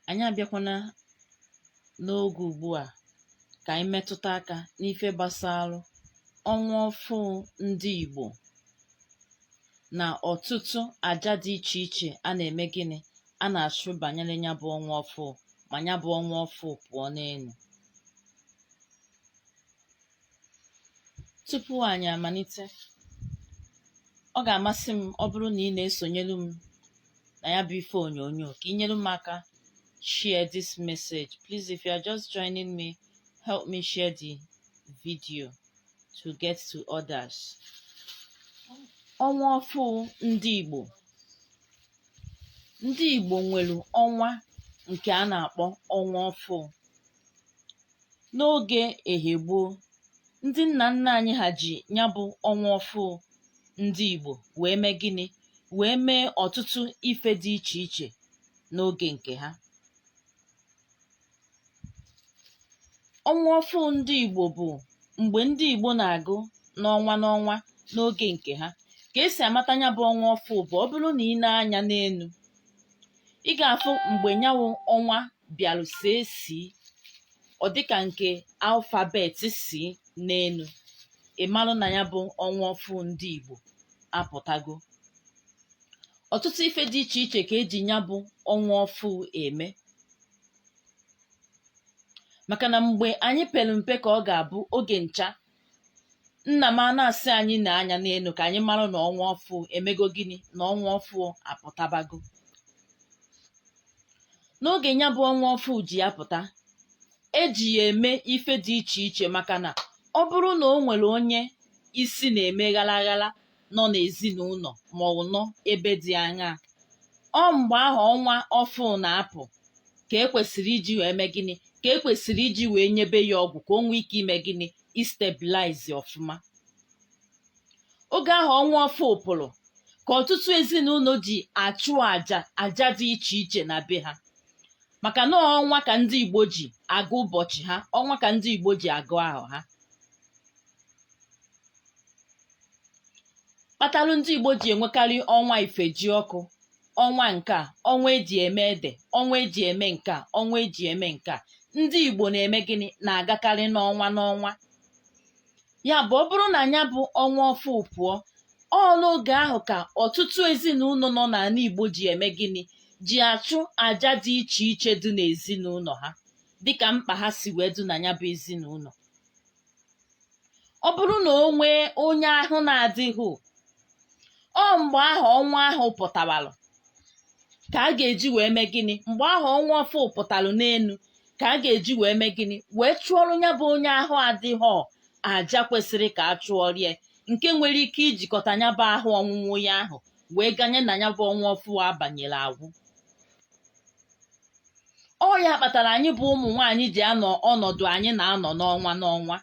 anyị abịakwana n'oge ugbu a ka anyị metụta aka n'ife gbasara ọnwa ọfụụ ndị Igbo na ọtụtụ aja dị iche iche a na-eme gịnị a na-achụ banyere ya bụ ọnwa ọfụụ ma ya bụ ọnwa ọfụụ pụọ n'elu tupu anyị amalite ọ ga-amasị m ọ bụrụ na ị na-esonyelu m na ya bụ ife onyonyo ka ị nyere m aka share this message please if you are just joining me help me share the video to get to others ọnwa ọfụ ndị Igbo ndị Igbo nwere ọnwa nke a na-akpọ ọnwa ọfụ n'oge ehe gboo ndị nna nna anyị ha ji ya bụ ọnwa ọfụ ndị Igbo wee mee gịnị wee mee ọtụtụ ife dị iche iche n'oge nke ha ọnwa ọfụ ndị Igbo bụ mgbe ndị Igbo na-agụ n'ọnwa n'ọnwa n'oge nke ha ka esi amata ya bụ ọnwa ọfụ bụ ọ bụrụ na i nee anya n'elu ị ga-afụ mgbe nya bụ ọnwa bịarụ see C ọ dịka nke alphabet C n'elu ị marụ na ya bụ ọnwa ọfụ ndị Igbo apụtago ọtụtụ ife dị iche iche ka eji ya bụ ọnwa ọfụ eme maka na mgbe anyị pere mpe ka ọ ga-abụ oge ncha nna m a na-asị anyị nee anya n'elu ka anyị mara na ọnwa ọfụ emego gịnị na ọnwa ọfụ apụtabago n'oge ya bụ ọnwa ọfụ ji wee pụta eji ya eme ife dị iche iche maka na ọ bụrụ na o nwere onye isi na-eme ghala ghala nọ n'ezinụlọ ma ọ bụ nọ ebe dị aṅaa ọ mgbe ahụ ọnwa ọfụụ na-apụ ka ekwesịrị iji wee mee gịnị ka ekwesịrị iji wee nyebe ya ọgwụ ka o nwee ike ime gịnị istabilize ọfụma oge ahụ ọnwa ọfụụ pụrụ ka ọtụtụ ezinụlọ ji achụ aja aja dị iche iche na be ha maka na ọnwa ka ndị Igbo ji agụ ụbọchị ha ọnwa ka ndị Igbo ji agụ ahọ ha kpatalụ ndị Igbo ji enwekarị ọnwa Ifejiọkụ ọnwa nke a ọnwa eji eme ede ọnwa eji eme nke a ọnwa eji eme nke a ndị Igbo na-eme gịnị na-agakarị n'ọnwa n'ọnwa ya bụ ọ bụrụ na ya bụ ọnwa ọfụ pụọ ọ n'oge ahụ ka ọtụtụ ezinụlọ nọ n'ala Igbo ji eme gịnị ji achụ aja dị iche iche dị n'ezinụlọ ha dịka mkpa ha si wee dị na ya bụ ezinụlọ ọ bụrụ na o nwee onye ahụ na-adịghị ọ mgbe ahụ ọnwa ahụ pụtawalụ ka a ga-eji wee mee gịnị mgbe ahụ ọnwa ọfụ pụtalụ n'elu ka a ga-eji wee mee gịnị wee chụọrọ ya bụ onye ahụ adịghị aja kwesịrị ka a chụọrọ ya nke nwere ike ijikọta ya bụ ahụ ọnwụnwụ ya ahụ wee ganye na ya bụ ọnwa ọfụ abanyela agwụ ọ ya kpatara anyị bụ ụmụ nwaanyị ji anọ ọnọdụ anyị na-anọ n'ọnwa n'ọnwa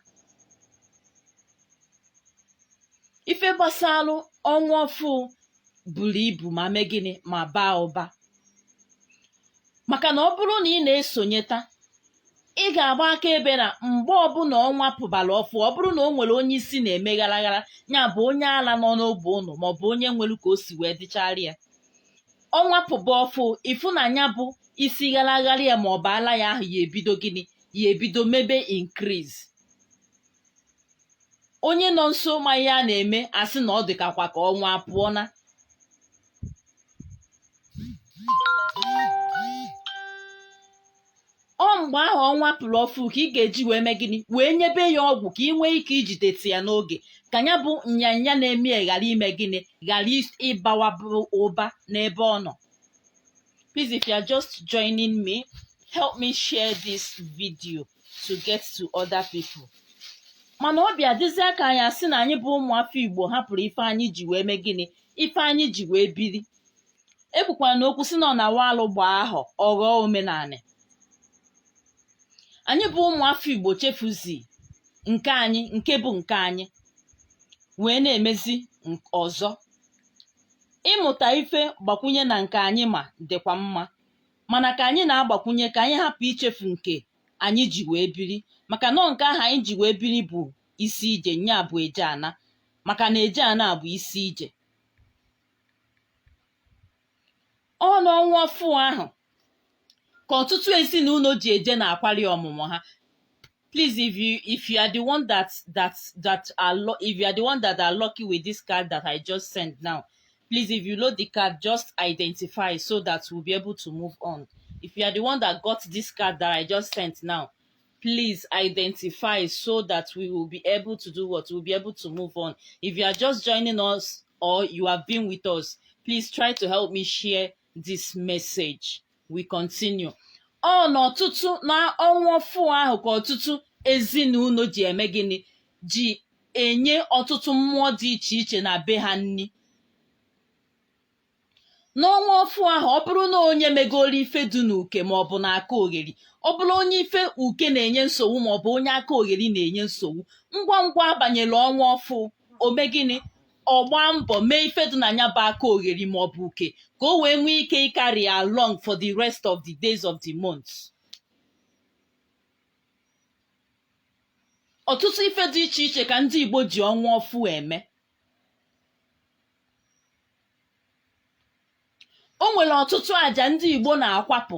ife gbasalụ ọnwa ọfụ buru ibu ma mee gịnị ma baa ụba maka na ọ bụrụ na ị na-esonyeta ị ga-agba akaebe na mgbe ọbụla ọnwa pụbara ọfụ ọ bụrụ na o nwere onye isi na-eme ghara ghara ya bụ onye ala nọ n'ogbe ụnụ maọbụ onye nwere ka o si wee dịchara ya ọnwa pụba ọfụ ị fụ na nya bụ isi ghara ghara ya maọbụ ala ya ahụ ya ebido gịnị ya ebido mebe increase onye nọ nso ma ihe a na-eme asị na ọ dịkakwa ka ọnwa pụọna ọ mgbe ahụ ọnwa pụrụ ọfụ ka ị ga-eji wee mee gịnị wee nyebe ya ọgwụ ka ị nwee ike ijideti ya n'oge ka ya bụ nyanya na-eme ya ghara ime gịnị ghara ịbawaba ụba n'ebe ọ nọ please if you are just joining me help me share this video to get to other people mana ọ bịa dịzie ka anyị asị na anyị bụ ụmụafọ igbo hapụrụ ife anyị ji wee mee gịnị ife anyị ji wee biri e kwukwara na okwu sị na ọ na-awụ alụ gbaa ahọ ọ ghọọ omenanị anyị bụ ụmụafọ igbo chefuzi nke anyị nke bụ nke anyị wee na-emezi nk- ọzọ ịmụta ife gbakwunye na nke anyị ma dịkwa mma mana ka anyị na-agbakwunye ka anyị hapụ ichefu nke anyị ji wee biri maka na ọ nke ahụ anyị ji wee biri bụ isi ije nya bụ eje ana maka na eje ana bụ isi ije ọ n'ọnwa ọfụ ahụ ka ọtụtụ ezinụlọ ji eje na akwali ọmụmụ ha please if you if you are the one that that that are lo- if you are the one that are lucky with this card that i just sent now please if you load the card just identify so that we'll be able to move on if you are the one that got this card that i just sent now please identify so that we will be able to do what we'll be able to move on if you are just joining us or you have been with us please try to help me share this message we continue ọ na ọtụtụ na ọnwa ọfụ ahụ ka ọtụtụ ezinụlọ ji eme gịnị ji enye ọtụtụ mmụọ dị iche iche na be ha nri n'ọnwa ọfụ ahụ ọ bụrụ na onye megoro ife dị n'uke ma ọ bụ na aka ogheri ọ bụrụ onye ife uke na-enye nsogbu ma ọ bụ onye aka ogheri na-enye nsogbu ngwa ngwa abanyela ọnwa ọfụ o mee gịnị ọ gbaa mbọ mee ife dị na ya bụ aka ogheri ma ọ bụ uke ka o wee nwee ike ịcarry along for the rest of the days of the month ọtụtụ ife dị iche iche ka ndị Igbo ji ọnwa ọfụ eme o nwere ọtụtụ àjà ndị Igbo na-akwapụ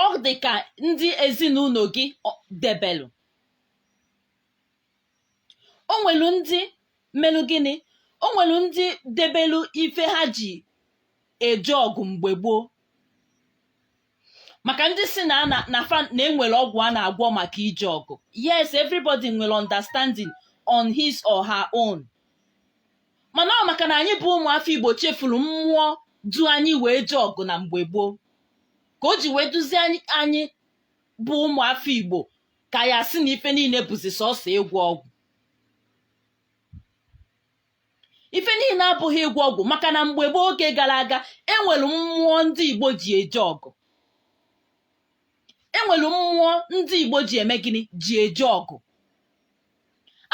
ọ dị ka ndị ezinụnọ gị ọ- debelụ o nwere ndị melụ gịnị o nwere ndị debelụ ife ha ji eje ọgụ mgbe gboo maka ndị sị na na na fa na enwere ọgwụ a na-agwọ maka ije ọgụ yes everybody nwere understanding on his or her own mana ọ maka na anyị bụ ụmụafọ igbo chefuru mmụọ du anyị wee jee ọgụ na mgbe gboo ka o ji wee dụzi anyị bụ ụmụafọ igbo ka a ya-asị na ife niile bụzi sọsọ ịgwọ ọgwụ ife niile abụghị ịgwọ ọgwụ maka na mgbe gboo oge gara aga enwere mmụọ ndị igbo ji eje ọgụ enwere mmụọ ndị igbo ji eme gịnị ji eje ọgụ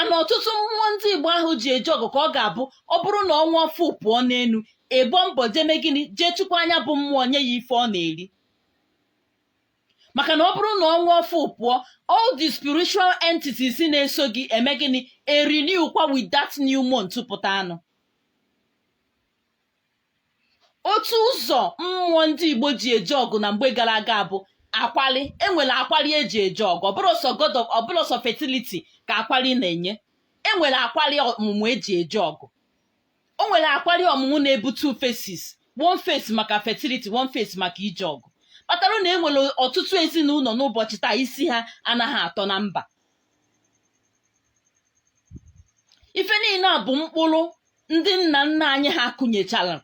ana ọtụtụ mmụọ ndị igbo ahụ ji eje ọgụ ka ọ ga-abụ ọ bụrụ na ọnwa ọfụ pụọ n'enu ị gbaa mbọ jee mee gịnị jee chụkwaa nya bụ mmụọ nye ya ife ọ na-eri maka na ọ bụrụ na ọnwa ọfụ pụọ all the spiritual entities na-eso gị eme gịnị erenew kwa with that new month pụtaranụ otu ụzọ mmụọ ndị Igbo ji eje ọgụ na mgbe gara aga bụ akwali enwere akwali eji eje ọgụ ọ bụrọ sọ god of ọ bụrọ sọ fertility ka akwali na-enye enwere akwali ọmụmụ eji eje ọgụ o nwere akwari ọmụmụ na-ebu two faces one face maka fertility one face maka ije ọgụ kpatara na e nwere ọtụtụ ezinụlọ n'ụbọchị taa isi ha anaghị atọ na mba ife niile a bụ mkpụrụ ndị nna nna anyị ha kụnyechara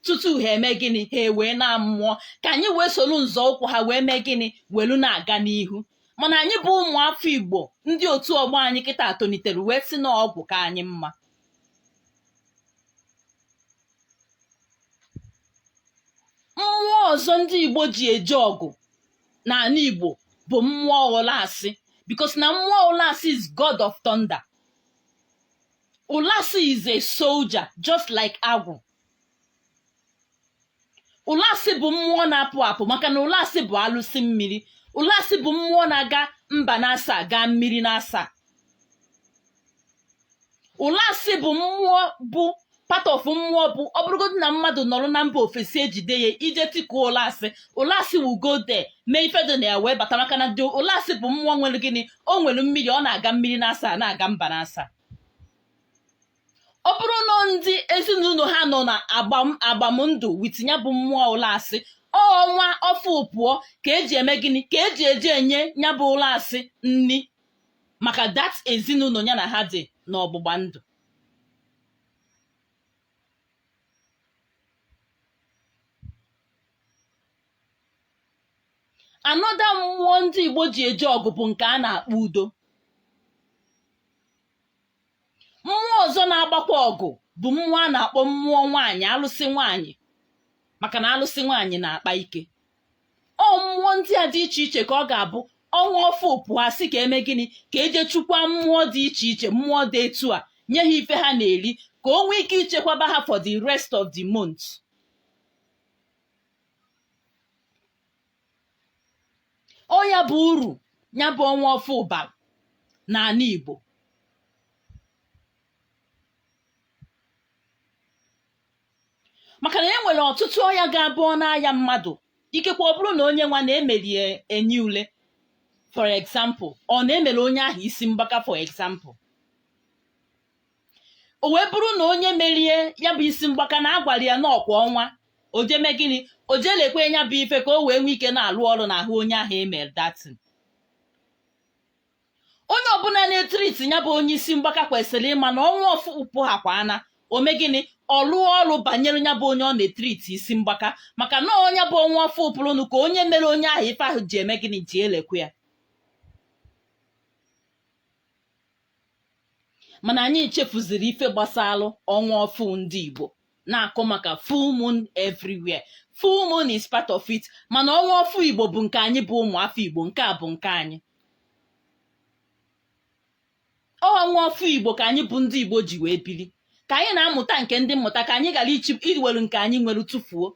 tutu ha eme gịnị ha ewee naa mmụọ ka anyị wee soro nzọụkwụ ha wee mee gịnị welu na-aga n'ihu mana anyị bụ ụmụ afọ igbo ndị otu ọgbọ anyị kịta tolitere wee sị na ọgwụ ka anyị mma mmụọ ọzọ ndị igbo ji eje ọgụ n'anị igbo bụ mmụọ ụlasị because na mmụọ ụlasị is god of thunder ụlasị is a soldier just like agwụ ụlasị bụ mmụọ na-apụ apụ maka na ụlasị bụ alụsị mmiri ụlasị bụ mmụọ na-aga mba naasaa gaa mmiri naasaa ụlasị bụ mmụọ bụ part of mmụọ bụ ọ bụrụgodị na mmadụ nọrọ na mba ofesi ejide ya i je tikuo ụlasị ụlasị will go there mee ife dị na ya wee bata maka na the ụlasị bụ mmụọ nwere gịnị o nwere mmiri ọ na-aga mmiri naasaa na-aga mba naasaa ọ bụrụ na ndị ezinụlọ ha nọ na agbam agbamndụ with ya bụ mmụọ ụlasị ọnwa ọfụụ pụọ ka e ji eme gịnị ka e ji eje enye ya bụ ụlasị nri maka that ezinụlọ ya na ha dị n'ọgbụgba ndụ another mmụọ ndị igbo ji eje ọgụ bụ nke a na-akpọ udo mmụọ ọzọ na-agbakwa ọgụ bụ mmụọ a na-akpọ mmụọ nwaanyị alụsị nwaanyị maka na alụsị nwaanyị na-akpa ike ọ mmụọ ndị a dị iche iche ka ọ ga-abụ ọnwa ọfụụ pụọ a sị ka e mee gịnị ka e je chukwa mmụọ dị iche iche mmụọ dị etu a nye ha ife ha na-eri ka o nwee ike ichekwaba ha for the rest of the month ọ ya bụ uru ya bụ ọnwa ọfụụ bara n'ala Igbo maka na e nwere ọtụtụ ọya ga-abụ ọ na-aya mmadụ ikekwe ọ bụrụ na onye nwa na e mere ya enyi ule for example or na e mere onye ahụ isi mgbaka for example o wee bụrụ na onye mere ya bụ isi mgbaka na a gwara ya na ọ kwa ọnwa o ji eme gịnị o ji elekwe ya bụ ife ka o wee nwee ike na-alụ ọrụ n'ahụ onye ahụ e mere that thing onye ọbụla na-etriti ya bụ onye isi mgbaka kwesịrị ịma na ọnwa ọfụụ pụhakwa na o mee gịnị ọ lụọ ọrụ banyere ya bụ onye ọ na-etriti isi mgbaka maka na ọ ya bụ ọnwa ọfụụ pụrụnụ ka onye mere onye ahụ ife ahụ ji eme gịnị ji elekwe ya mana anyị chefuziri ife gbasalụ ọnwa ọfụụ ndị Igbo na-akọ maka full moon everywhere full moon is part of it mana ọnwa ọfụụ Igbo bụ nke anyị bụ ụmụ afọ Igbo nke a bụ nke anyị ọnwa ọfụụ Igbo ka anyị bụ ndị Igbo ji wee bili ka anyị na-amụta nke ndị mmụta ka anyị ghara iwelu nke anyị nwere tụfuo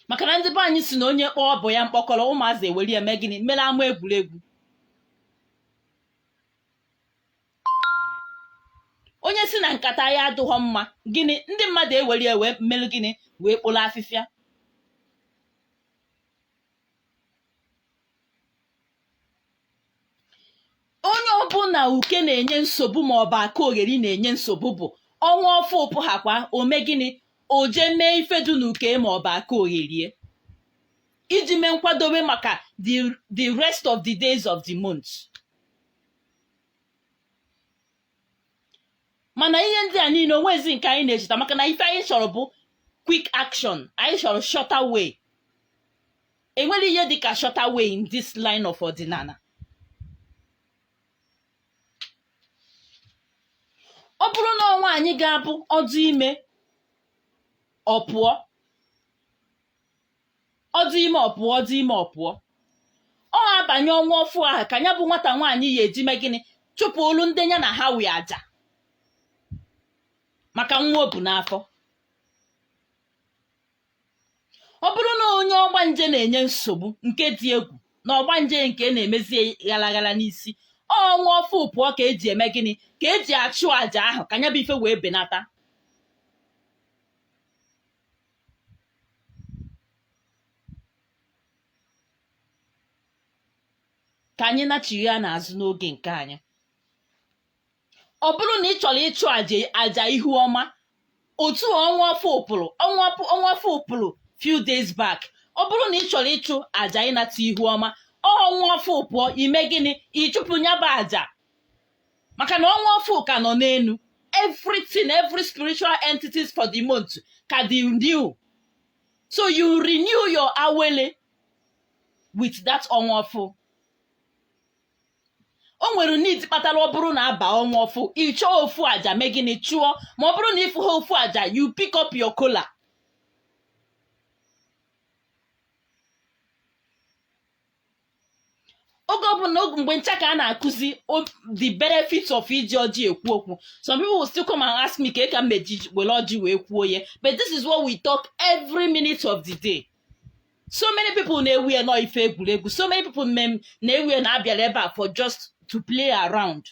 maka na ndị be anyị sị na onye kpọọ obu ya mkpọkọrọ ụmụazị ewere ya mee gịnị mere ama egwuregwu onye sị na nkata ya adịghọ mma gịnị ndị mmadụ ewere ya wee mere gịnị wee kporo afịfịa onye ọbụla uke na-enye nsogbu ma ọ bụ aka ogheri na-enye nsogbu bụ ọnwa ọfụụ pụhakwa o mee gịnị o jee mee ife dị n'uke ma ọ bụ aka ogheri iji mee nkwadobe maka the the rest of the days of the month mana ihe ndị a niile o nwezi nke anyị na-echeta maka na ife anyị chọrọ bụ quick action anyị chọrọ shorter way enwere ihe dị ka shorter way in this line of ọdịnala ọ bụrụ na ọ nwaanyị ga-abụ ọ dị ime ọ pụọ ọ dị ime ọ pụọ ọ dị ime ọ pụọ ọ banye ọnwa ọfụụ ahụ ka ya bụ nwata nwaanyị ya-eji mee gịnị chụpụlụ ndị ya na ha wi aja maka nwa o bu n'afọ ọ bụrụ na onye ọgbanje na-enye nsogbu nke dị egwu na ọgbanje nke na-emezi ghalaghala n'isi ọnwa ọfụụ pụọ ka eji eme gịnị ka eji achụ àjà ahụ ka ya bụ ife wee benata ka anyị nachigha n'azụ n'oge nke anyị ọ bụrụ na ị chọrọ ịchụ aja aja ihu ọma otu a ọnwa ọfụụ pụrụ ọnwa ọfụ- ọnwa ọfụụ pụrụ few days back ọ bụrụ na ị chọrọ ịchụ aja ịnata ihu ọma ọnwa ọfụụ pụọ i mee gịnị ị chụpụ nya bụ aja maka na ọnwa ọfụụ ka nọ n'elu everything every spiritual entities for the month ka dị new so you renew your awele with that ọnwa ọfụụ o nwere need kpatara ọ bụrụ na a baa ọnwa ọfụụ ị chọọ ofu aja mee gịnị chụọ ma ọ bụrụ na ị fụha ofu aja you pick up your kola oge ọbụla oge mgbe ncha ka a na-akụzi o- the benefits of iji ọjị ekwu okwu some people will still come and ask me kee ka m meji were ọjị wee kwuo ya but this is what we talk every minute of the day so many people na-ewe ya na ọ ife egwuregwu so many people mem na-ewe ya na a bịara ebe a for just to play around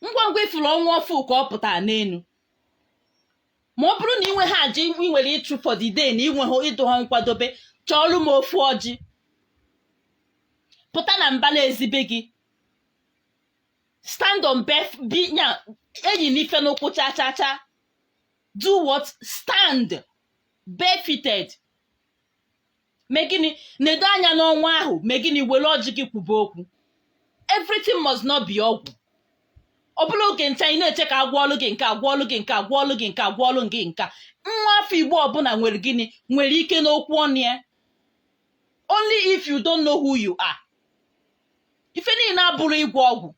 ngwa ngwa ị fụrụ ọnwa ọfụụ ka ọ pụtara n'elu ma ọ bụrụ na i nweha aja i nwere ịchụ for the day na i nweha ị dụha nkwadobe chọọlụ m ofu ọjị pụta na mbala ezi be gị stand on bef bi nya eyina ife n'ụkwụ cha cha cha do what stand barefooted mee gịnị nedo anya n'ọnwa ahụ mee gịnị were ọjị gị kwube okwu everything must not be ọgwụ ọ bụla oge ncha ị na-eche ka agwa ọlụ gị nke agwa ọlụ gị nke agwa ọlụ gị nke agwa ọlụ gị nka nwa afọ igbo ọbụla nwere gịnị nwere ike n'okwu ọnụ ya only if you don't know who you are ife niile abụrụ ịgwọ ọgwụ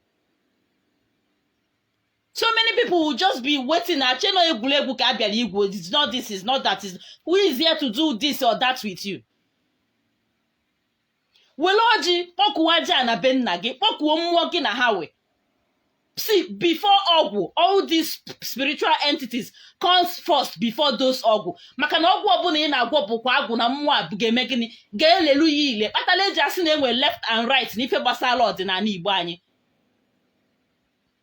so many people will just be waiting na-eche na ọ egwuregwu ka a bịara igwu it's not this is not that is who is here to do this or that with you were ọjị kpọkuo aja ana be nna gị kpọkuo mmụọ gị na ha wee see before ọgwụ all these spiritual entities comes first before those ọgwụ maka na ọgwụ ọbụla ị na-agwọ bụkwa agwụ na mmụọ a ga-eme gịnị ga-elelu ya ile kpatara eji asị na enwe left and right n'ife gbasara ọdịnala igbo anyị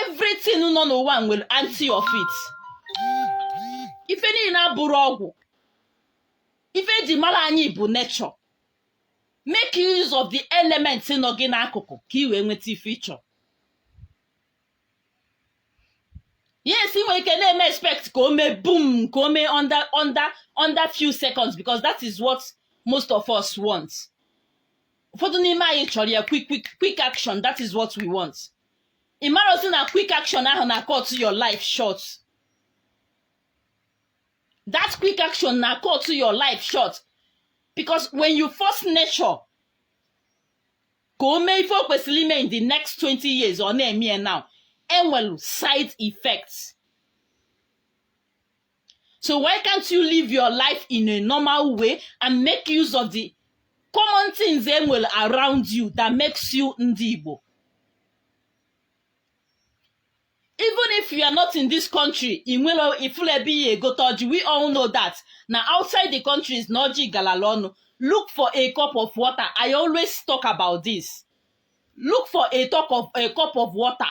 everything nọ n'ụwa nwere anti of it ife niile abụrọ ọgwụ ife eji mara anyị bụ na ị chọọ make use of the element nọ gị n'akụkụ ka ị wee nweta ife ị chọ yes ị nwere ike na-eme expect ka o mee boom ka o mee under under under few seconds because that is what most of us want ụfọdụ n'ime anyị chọrọ ya quick quick quick action that is what we want ị marọ sị na quick action ahụ na cut your life short that quick action na cut your life short because when you force nature ka o mee ife o kwesịrị ime in the next 20 years ọ na-eme ya now enwelu side effects So why can't you live your life in a normal way and make use of the common things e nwere around you that makes you ndị Igbo? Even if you are not in this country, ị nwere ifuru ebe ihe egote ọjị, we all know that. Na outside the country is na ọjị galala ọnụ. Look for a cup of water. I always talk about this. Look for a, talk of, a cup of water.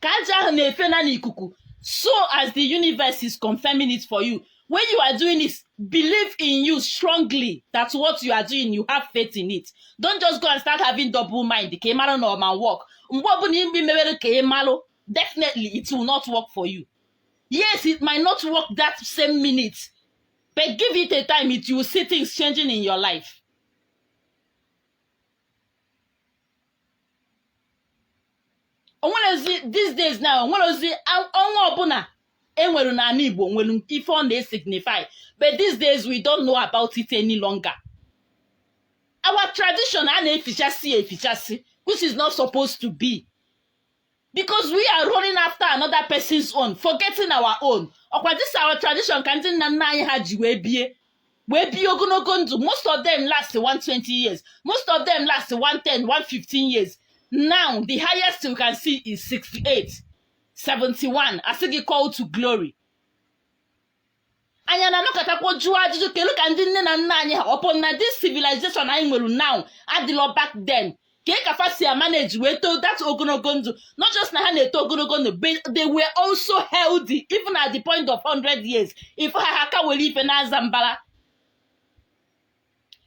ka aja ahụ na-efe na n'ikuku so as the universe is confirming it for you when you are doing it believe in you strongly that what you are doing you have faith in it don't just go and start having double mind ka ị mara na ọ ma work mgbe ọbụla ime mewere ka ị malụ definitely it will not work for you yes it might not work that same minute but give it a time it you will see things changing in your life o nwerọzi these days now o nwerọzi a- ọnwa ọbụla enwere n'ana igbo nwere ife ọ na-esignify but these days we don't know about it any longer our tradition a na-efichasị ya efichasị which is not supposed to be because we are running after another person's own forgetting our own ọkwa this our tradition ka ndị nna nna anyị ha ji wee bie wee bie ogonogo ndụ most of them last 120 years most of them last 110 115 years now the highest you can see is 68 71 asị gị call to glory anyị na-anọkọtakwa jụọ ajụjụ kelu ka ndị nne na nna anyị ha upon na this civilization anyị nwere now adịlọ back then kee ka fa si emanage wee too that ogonogo ndụ not just na ha na-eto ogonogo ndụ but they were also healthy even at the point of 100 years ị fụ ha ha ka were ife na-aza mbara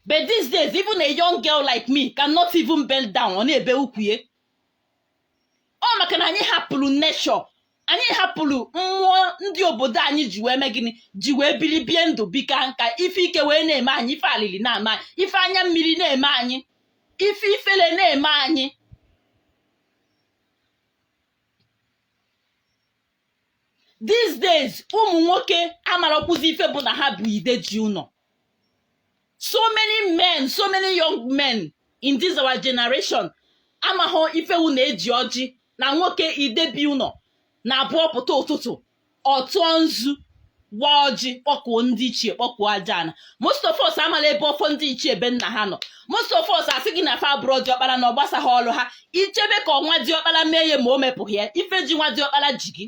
but these days even a young girl like me cannot even bend down ọ na-ebe ukwu ya ọ maka na anyị hapụrụ nature anyị hapụrụ mmụọ ndị obodo anyị ji wee mee gịnị ji wee biri bie ndụ bie kaa nka ife ike wee na-eme anyị ife alili na-eme anyị ife anya mmiri na-eme anyị ife ifele na-eme anyị these days ụmụ nwoke amarakwụzi ife bụ na ha bụ ide ji ụnọ so many men so many young men in this our generation amaghọ ife wụ na e ji ọjị na nwoke idebi ụnọ na ọ bụ ọ pụta ụtụtụ ọ tụọ nzu waa ọjị kpọkuo ndị ichie kpọkuo aja ana most of us amala ebe ọfọ ndị ichie be nna ha nọ most of us asị gị na fa abụrọ diọkpara na ọ gbasaghị ọrụ ha ị chebe ka nwa diọkpara mee ya ma o mepụghị ya ife ji nwa diọkpara ji gị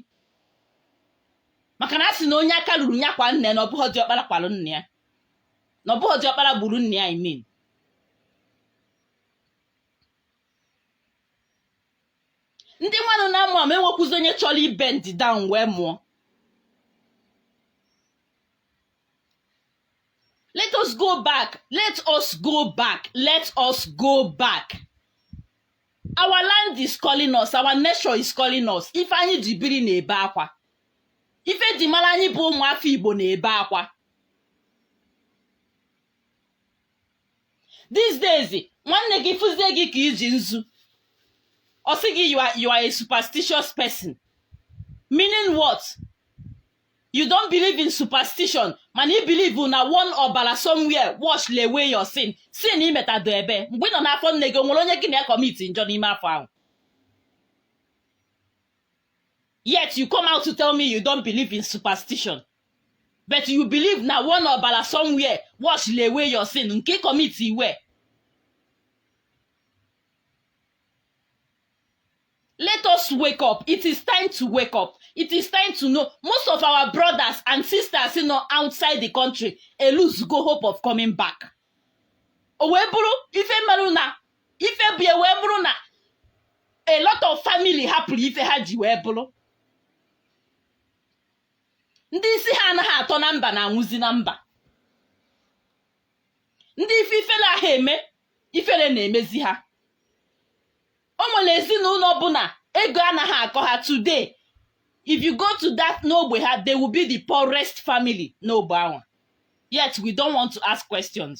maka na a sị na onye aka ruru ya kwaa nna ya na ọ bụghị diọkpara kwalụ nna ya na ọ bụghị diọkpara gburu nna ya i mean ndị mmadụ na-amụ amụ enwekwuzi onye chọrọ ị bend down wee mụọ let us go back let us go back let us go back our land is calling us our nature is calling us ife anyị ji biri na-ebe akwa ife e ji mara anyị bụ ụmụafọ igbo na-ebe akwa these days nwanne gị fụzie gị ka i ji nzu ọ sị gị you are, you are a superstitious person meaning what you don't believe in superstition mana ị believe na one ọbara somewhere washịlị away your sin sin i metado ebee mgbe ị nọ n'afọ nne gị o nwere onye gị na ya commit njọ n'ime afọ ahụ yet you come out to tell me you don't believe in superstition but you believe na one ọbara somewhere washịlị away your sin nke ị commit where let us wake up it is time to wake up it is time to know most of our brothers and sisters nọ outside the country elosego hope of coming back o wee bụrụ ife meru na ife bụ ya wee bụrụ na a lot of family hapụrụ ife ha ji wee bụrụ ndị isi ha anaghị atọ na mba na-anwụzi na mba ndị ife ifele anaghị eme ifele na-emezi ha o nwere ezinụlọ bụ na ego anaghị akọ ha today if you go to that n'ogbe ha they will be the poorest family n'ogbe anwa yet we don't want to ask questions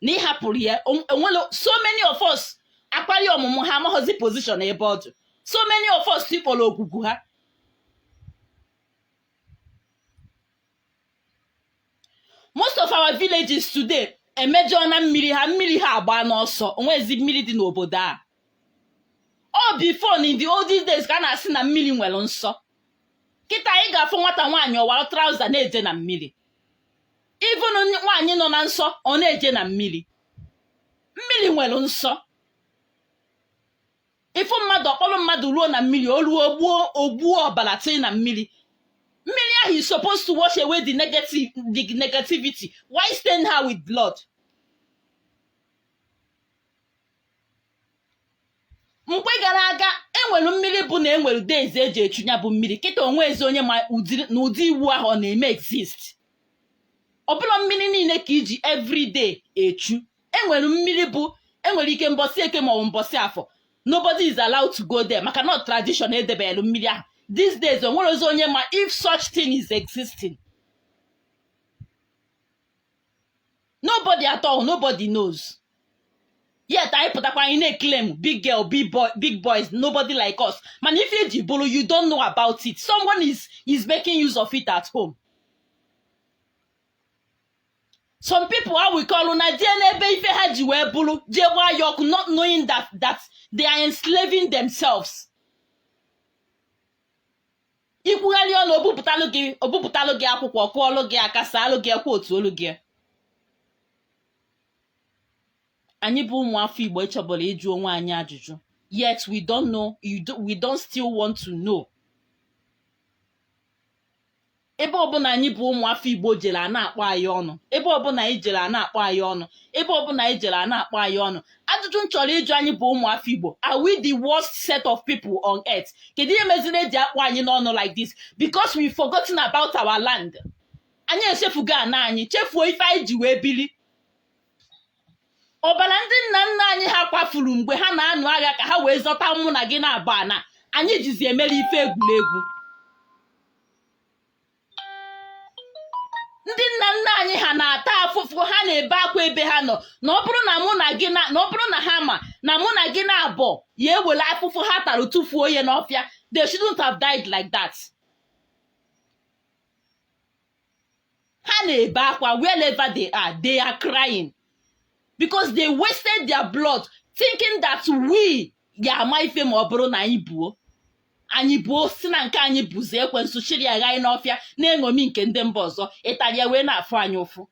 na ị hapụrụ ya o- enwela so many of us akwali ọmụmụ ha amaghọzi position ebe ọ dị so many of us tikpọrọ ogwugwu ha most of our villages today emejọọna mmiri ha mmiri ha agbaana ọsọ onwezi mmiri dị n'obodo a ọ before na in the olden days ka a na-asị na mmiri nwere nsọ kịta anyị ga-afụ nwata nwaanyị ọ wara trouser na-eje na mmiri even nwaanyị nọ na nsọ ọ na-eje na mmiri mmiri nwere nsọ ị fụ mmadụ ọ kpọrọ mmadụ ruo na mmiri o ruo ogbuo ogbuo ọbara tee na mmiri mmiri ahụ is supposed to wash away the negative the negativity why stain her with blood mgbe gara aga enwere mmiri bụ na enwere days eji echu ya bụ mmiri kịta onwezi onye ma ụdị na ụdị iwu ahụ ọ na-eme exist ọbụla mmiri niile ka eji everyday echu enwere mmiri bụ enwere ike mbọsị eke maọbụ mbọsị afọ nobody is allowed to go there maka na tradition edebelu mmiri ahụ these days onwerọzi onye ma if such thing is existing nobody at all nobody knows yet anyị pụtakwa anyị na-eclaim big girl big boy big boys nobody like us mana ife iji bụrụ you don't know about it someone is is making use of it at home some people ha ewekọlụ na dị n'ebe ife ha ji wee bụrụ jee gbaa ya ọkụ not knowing that that they are enslaving themselves ikwugharị ọnụ obupụtalụ gị obupụtalụ gị akwụkwọ kụọlụ gị aka saalụ gị ekwe otu olu gị anyị bụ ụmụ afọ igbo ịchọbụla ịjụ onwe anyị ajụjụ yet we don't know we don't still want to know ebe ọbụla anyị bụ ụmụ afọ igbo jere a na-akpọ anyị ọnụ ebe ọbụla anyị jere a na-akpọ anyị ọnụ ebe ọbụla anyị jere a na-akpọ anyị ọnụ ajụjụ m chọrọ ịjụ anyị bụ ụmụafọ igbo are we the worst set of people on earth kedu ihe meziri eji akpọ anyị n'ọnụ like this because we forgotten about our land anyị echefugo ana anyị chefuo ife anyị ji wee bili ọbara ndị nna nna anyị ha kwafuru mgbe ha na-anụ agha ka ha wee zọta mụ na gị naabọ ana anyị jizi emere ife egwuregwu ndị nna nna anyị ha na-ata afụfụ ha na-ebe akwa ebe ha nọ na ọ bụrụ na mụ na gị na na ọ bụrụ na ha ma na mụ na gị naabọ ya-ewere afụfụ ha tara tụfuo ya n'ọfịa they shouldn't have died like that. ha na-ebe akwa wherever they are they are crying because they wasted their blood thinking that we ya ama ife ma ọ bụrụ na anyị buo anyị buo sị na nke anyị bụzi ekwensu chịrị ya ghaa n'ọfịa na-eṅomi nke ndị mba ọzọ ịtali ya wee na-afụ anyị ụfụ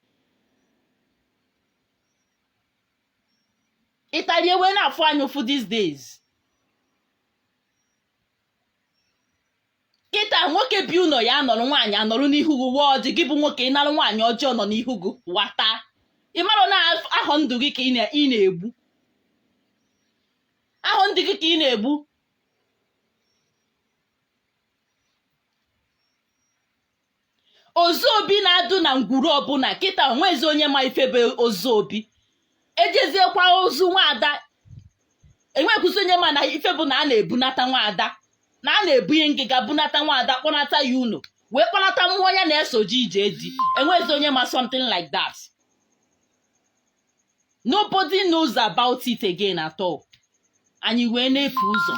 ịtali ya wee na-afụ anyị ụfụ these days kịta nwoke bi ụnọ ya anọrọ nwaanyị anọrọ n'ihu gị waa ọjị gị bụ nwoke ị nara nwaanyị ọjị ọ nọ n'ihu gị wata ị mara na ahọ ndụ gị ka ị na-egbu ahọ ndụ gị ka ị na-egbu ozu obi na-adụ na ngwuru ọbụla kịta o nwezi onye ma ife bụ ozu obi e jeziekwa ozu nwaada enwekwuzi onye ma na ife bụ na a na-ebunata nwaada na a na-ebunye ngịga bunata nwaada kpọnata ya ụnọ wee kpọnata mmụọ ya na-esoji ije di enwezi onye ma something like that nobody knows about it again at all anyị wee na-efu ụzọ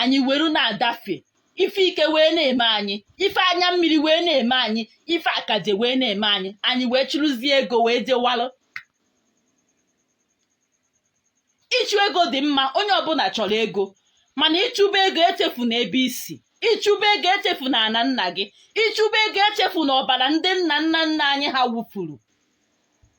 anyị were na-adafe ife ike wee na-eme anyị ife anya mmiri wee na-eme anyị ife akaje wee na-eme anyị anyị wee chụrụzie ego wee jewalụ ịchụ ego dị mma onye ọbụla chọrọ ego mana ị chụba ego echefuna ebe i si ị chụba ego echefuna ana nna gị ị chụba ego echefuna ọbala ndị nna nna nna anyị ha wụfụrụ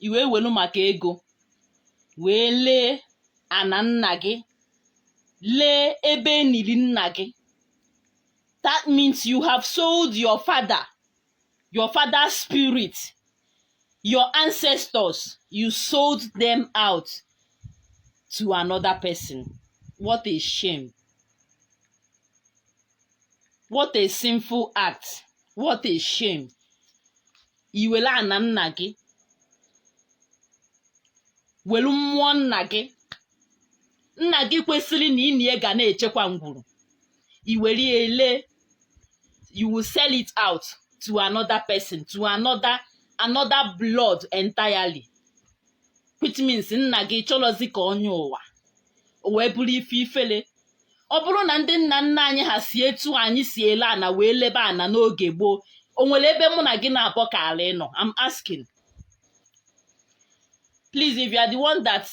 i wee welu maka ego wee lee ana nna gị lee ebe enili nna gị that means you have sold your father your father's spirit your ancestors you sold them out to another person what a shame what a sinful act what a shame i were ana nna gị welu mmụọ nna gị nna gị kwesịrị na i nie ga na-echekwa ngwuru i were ya ele you will sell it out to another person to another another blood entirely which means nna gị chọrọzi ka ọ nyọ ụwa o wee bụrụ ife ifele ọ bụrụ na ndị nna nna anyị ha si etu anyị si ele ana wee lebe ana n'oge gboo o nwere ebe mụ na gị naabọ kala ịnọ I'm asking please if you are the one that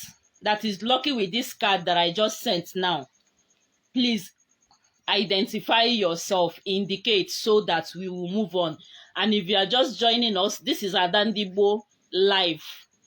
that is lucky with this card that I just sent now please identify yourself indicate so that we will move on and if you are just joining us this is Ada Ndigbo live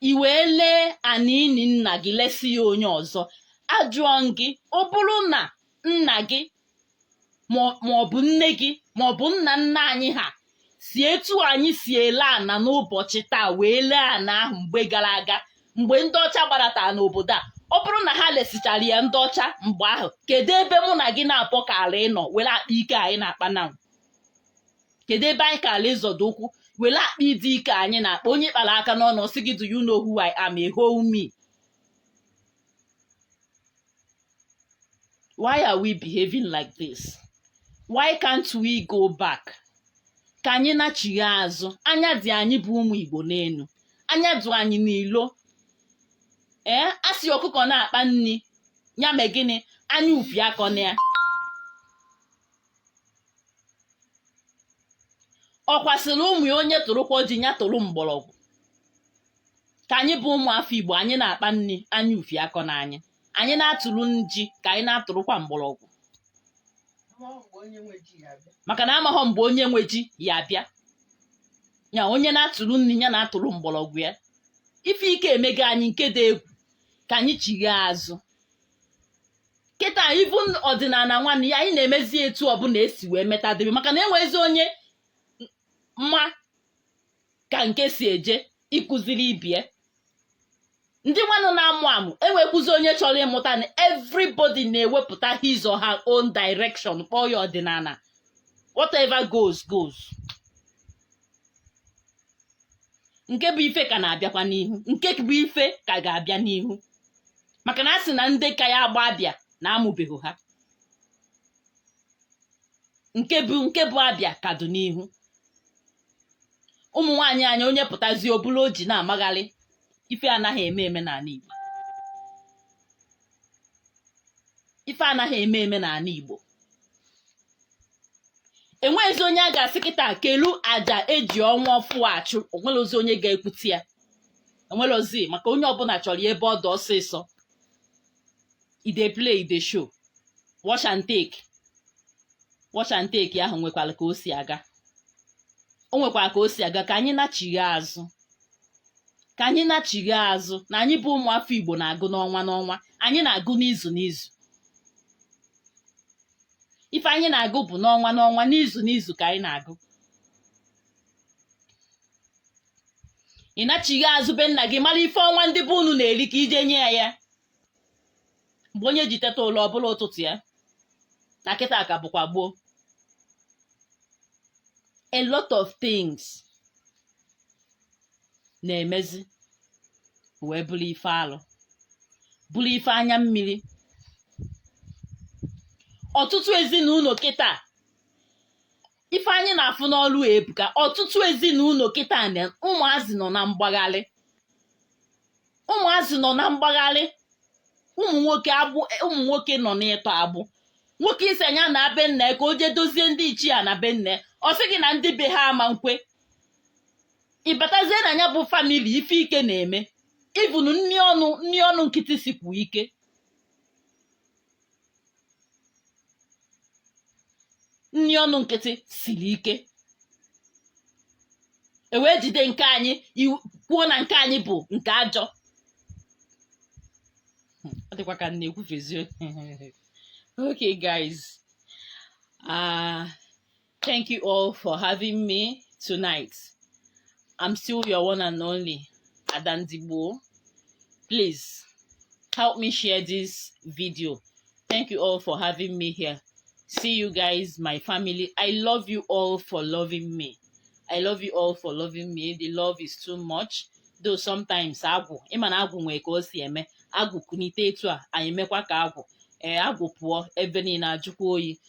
i wee lee ana ini nna gị lesi ya onye ọzọ ajụọ m gị ọ bụrụ na nna gị ma ọ- ma ọ bụ nne gị ma ọ bụ nna nna anyị ha si etu anyị si ele ana n'ụbọchị taa wee lee ana ahụ mgbe gara aga mgbe ndị ọcha gbaratara n'obodo a ọ bụrụ na ha lesichara ya ndị ọcha mgbe ahụ kedu ebe mụ na gị naabọ kara ịnọ were akpa ike anyị na-akpa now kedu ebe anyị ka ala ịzọdo ụkwụ were akpa ịdị ike anyị na-akpa onye kpara aka n'ọnụ ọ sị gị do you know who I am a whole me why are we behaving like this why can't we go back ka anyị nachigha azụ anya dị anyị bụ ụmụ Igbo n'elu anya dị anyị n'ilo ee a sị ọkụkọ na-akpa nri ya mee gịnị anya ufie akọna ya ọkwa sịrị ụmụ ya onye tụrụkwa ji ya tụrụ mgbọrọgwụ ka anyị bụ ụmụ afọ igbo anyị na-akpa nri anya ufie akọna anyị anyị na-atụrụ ji ka anyị na-atụrụkwa mgbọrọgwụ maka na amaghọ mgbe onye nwe ji ya-abịa ya onye na-atụrụ nri ya na-atụrụ mgbọrọgwụ ya ife ike emego anyị nke dị egwu ka anyị chigha azụ kịta ibu ọdịnala nwanụ a anyị na-emezi etu ọbụla e si wee metadebe maka na enwezi onye ma ka nke si eje ịkụziri ibe ya ndị nwanụ na-amụ amụ enwekwuzi onye chọrọ ịmụta na everybody na-ewepụta his or her own direction kpọọ ya ọdịnala whatever goes goes nke bụ ife ka na-abịakwa n'ihu nke bụ ife ka ga-abịa n'ihu maka na a sị na ndị ka ya-agba abịa na amụbeghị ha nke bụ nke bụ abịa ka dị n'ihu ụmụ nwaanyị anyị onye pụtazi o buru ọjị na-amagharị ife anaghị eme eme n'ala Igbo ife anaghị eme eme n'ala Igbo enweghịzi onye a ga-asị kịta kelu aja e ji ọnwa ọfụ achụ o nwerọzi onye ga-ekwute ya e nwerọzi maka onye ọbụla chọrọ ya ebe ọ dị ọsịsọ e dey play e dey show wash and take wash and take ahụ nwekwara ka o si aga o nwekwara ka o si aga ka anyị nachigha azụ ka anyị nachigha azụ na anyị bụ ụmụafọ Igbo na-agụ n'ọnwa n'ọnwa anyị na-agụ n'izu n'izu ife anyị na-agụ bụ n'ọnwa n'ọnwa n'izu n'izu ka anyị na-agụ ị nachigha azụ be nna gị mara ife ọnwa ndị be unu na-eri ka i je nye ya ya mgbe onye ji teta ụra ọ bụrụ ụtụtụ ya na kịta ka bụkwa gboo a lot of things na-emezi wee bụrụ ife alụ bụrụ ife anya mmiri ọtụtụ ezinụlọ kịta ife anyị na-afụ n'ọrụ a ebuka ọtụtụ ezinụlọ kịta na ụmụazị nọ na mgbagharị ụmụazị nọ na mgbagharị ụmụ nwoke agbụ ụmụ nwoke nọ n'ịtọ agbụ nwoke ị sị nya naa be nna ya ka o jee dozie ndị ichie ana be nna ya ọ sị gị na ndị be ha ama nkwe ị batazie na nya bụ family ife ike na-eme ivunu nni ọnụ nni ọnụ nkịtị sikwu ike nni ọnụ nkịtị siri ike e wee jide nke anyị iwu- kwuo na nke anyị bụ nke ajọ ọ dịkwa ka m na-ekwufezi okay guys ah Thank you all for having me tonight. I'm still your one and only, Ada Ndigbo. Please help me share this video. Thank you all for having me here. See you guys, my family. I love you all for loving me. I love you all for loving me. The love is too much. Though sometimes agwụ ị ma na agwụ nwee ka o si eme agwụ kunite etu a anyị emekwa ka agwụ ee eh, agwụ pụọ ebe niile ajụkwa oyi